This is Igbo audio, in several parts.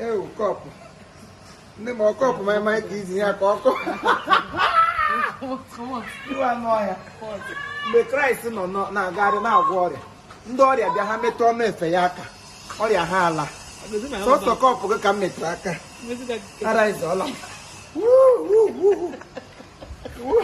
ewu cup ndị ma ọ cup ma emaghị ka izi ya ka ọkọ iwe anụ ọhịa mgbe kraịst nọ nọ- na-agagharị na-agwọ ọrịa ndị ọrịa bịa ha metụ ọnụ efe ya aka ọrịa ha ala sọsọ cup gị ka m metụrụ aka ara ịzọọla m. Wuu, wuu, wuu, wuu.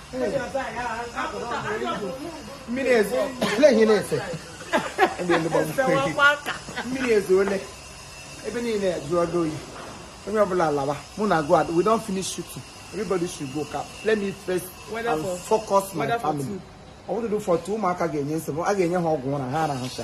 mmiri ezoole ebe niile jụọ oyi onye ọbụla lawa make una go we don finish shooting everybody should go ka let me first and focus my family ọ bụrụ for two ụmụaka ga-enye nsogbu a ga-enye ha ọgwụ ụra ha arahụcha